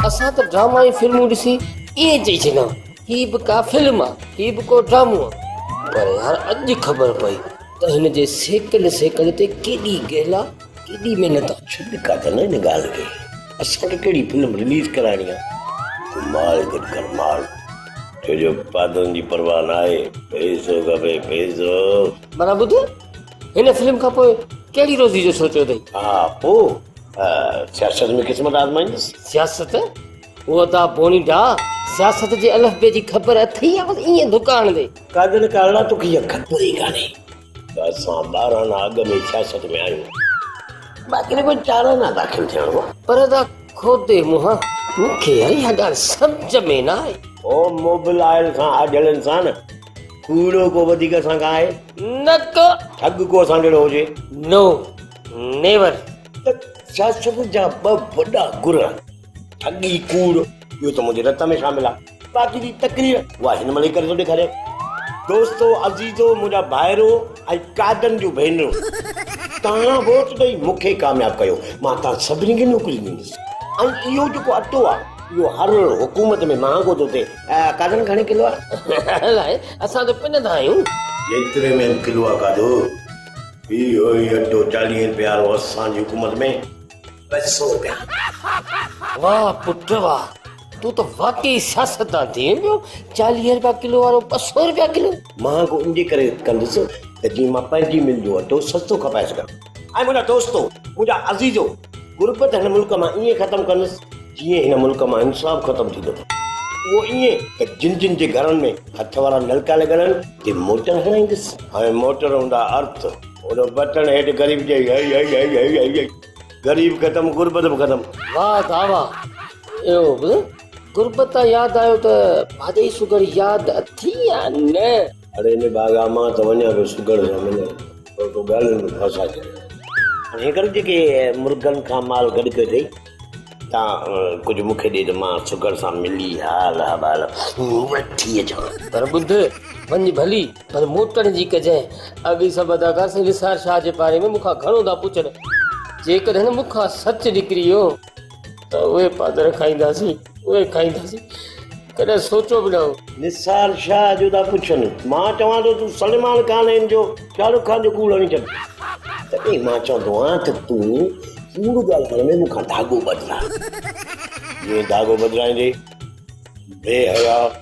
اسان ته ڊراما ۽ فلمون ڏسي ائين چئي ڇڏيا هي به ڪا فلم آ هي به ڪو ڊرامو آ پر يار اڄ خبر پئي ته هن جي سيڪنڊ سيڪنڊ تي ڪيڏي گهلا ڪيڏي محنت آ ڇڏ ڪاڪا نه هن ڳالهه کي اسان کي ڪهڙي فلم رليز ڪرائڻي آ تو مال گڏ ڪر مال ڇو جو پادرن جي پرواهه ناهي پئسو کپي پئسو. ڀلا ٻڌ هن فلم کان پوء ڪهڙي روزي جو سوچيو اٿئي؟ ها پوء سياست ۾ قسمت آزمائيندس. سياست؟ او ادا بوني ڊا سياست جي الف بي جي خبر اٿئي يا بس ائين ڌڪا هڻندي؟ ڪاڄل ڪارڙا تو کي اک پوري ڪانهي ته اسان ٻارهن اڳ ۾ سياست ۾ آهيون باقي رڳو چارانا داخل ٿيڻ هو. پر ادا کوتي منهن مون کي اها ڳالهه سمجهه ۾ نه آئي. او موبل آئل سان آجهل انسان. ڪوڙو ڪو وڌيڪ اسان کان آهي؟ نه ڪو. ٺڳ ڪو اسان جهڙو هجي؟ No, never. ته ڇا سڀ جا ٻه وڏا گر آهن. ٺڳي، ڪوڙ، اهو ته منهنجي رت ۾ شامل آهي. باقي جي تقرير، اها هن مهل ئي ڪري ٿو ڏيکاريان. دوستو عزيزو، منهنجا ڀائرو ۽ قائدن جون ڀينرو! توهان ووٽ ڏئي مون کي ڪامياب ڪيو. مان توهان سڀني کي نوڪري ڏيندس. ۽ اهو جيڪو اٽو آهي، اهو هر حڪومت ۾ مهانگو ٿو ٿئي. قادرن گهڻي ڪلو آهي؟ اسان ته پنڌ آهيون. جيتري ۾ به ڪلو آهي قادو. هي اهو ئي اٽو چاليهه روپين وارو اسان جي حڪومت ۾ ٻه سؤ روپيا. واه پٽ واه تون ته واقعي سياستدان ٿي ويو چاليهه روپيا ڪلو وارو ٻه سؤ روپيا ڪلو. مهانگو ان جي ڪري ڪندس ته جيئن مان پنهنجي مل جو اٽو سستو کپائي سگهان. اي منهنجا دوستو، منهنجا عزيزو، غربت هن ملڪ مان ائين ختم ڪندس، جيئن هن ملڪ مان انصاف ختم ٿيندو اٿئي. اهو ائين ته جن جن جي گهرن ۾ هٿ وارا نلڪا لڳل آهن، تي موٽر هڻائيندس. هاڻي موٽر هوندا ارٿ. ان بٽڻ هيٺ غريب چئي، هئي هئي هئي هئي هئي هئي. غريب ختم، غربت به ختم. واهه ڌاء واهه. اهو به غربت تان ياد آيو ته ڀاڄئي سوگهڙ ياد اٿئي يا نه؟ اڙي ان باغ آ مان ته وڃان پيو سگهڙ سان ملڻ پر تو ڳالهين ۾ ڦاسا ڪيائين. هينئر جيڪي مرغن کان مال گڏ ڪيو اٿئي تان ڪجهه مون کي ڏي ته مان سگهڙ سان ملي حال احوال وٺي اچان. پر ٻڌ، وڃ ڀلي پر موٽڻ جي ڪجانء اڳ ئي سڀ اداڪار سائين نثار شاهه جي باري ۾ مون کان گهڻو ٿا پڇن. جيڪڏهن مون کان سچ نڪري ويو ته اهي پادر کائينداسين، اهي کائينداسين، ڪڏهن سوچيو به نه هو. نثار شاهه جو ٿا پڇن. مان چوان ٿو تون سلمان خان ۽ ان جو شاهه رخ خان جو ڪوڙ هڻي ڇڏ. تڏهن مان چوندو آهيان ته تون ڪوڙ ڳالهائڻ ۾ مون کان ڌاڳو ٻڌراء. جيئن ڌاڳو ٻڌرائيندي، بي حياء.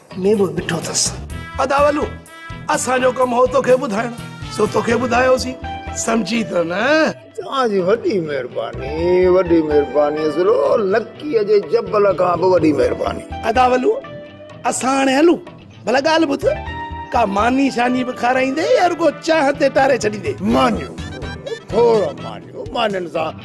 ۾ به ڏٺو ٿس. ادا ولو! اسان جو ڪم هو توکي ٻڌائڻ، سو توکي ٻڌايوسين. سمجهين ٿو نه؟ توهان جي وڏي مهرباني، وڏي مهرباني اصلو نڪيء جي جبل کان به وڏي مهرباني. ادا ولو! اسان هاڻي هلون؟ ڀلا ڳالهه ٻڌ، ڪا ماني شاني به کارائيندين يا رڳو چانهه تي ٽاري ڇڏيندين؟ مانيون! کوڙ مانيون! مانين سان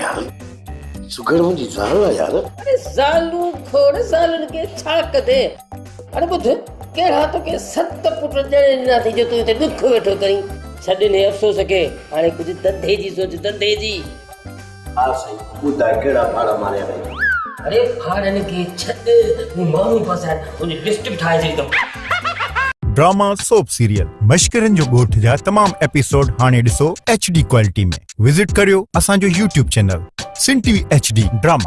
يار سگهڙ منهنجي زال آ يار اري زالون کوڙ زالن کي ڇا ڪدي اري ٻڌ ڪهڙا توکي ست پٽ ڄڻي ڏناسي جو تون هتي ڏک ويٺو ڪرين ڇڏ هن افسوس کي هاڻي ڪجهه دندي جي سوچ دندي جي ها سائين ٻڌاء ڪهڙا ڦاڙا ماريا اٿئي اري ڦاڙن کي ڇڏ مون ماڻهو ڦاسايا تنهنجي لسٽ به ٺاهي ڇڏي اٿم ڊراما سوپ سيريل مشڪرين جو ڳوٺ جا تمام ايپيسوڊ هاڻي ڏسو ايڇ ڊي ڪوالٽي ۾ وزٽ ڪريو اسان جو يوٽيوب چينل سنٽي ايڇ ڊي ڊراما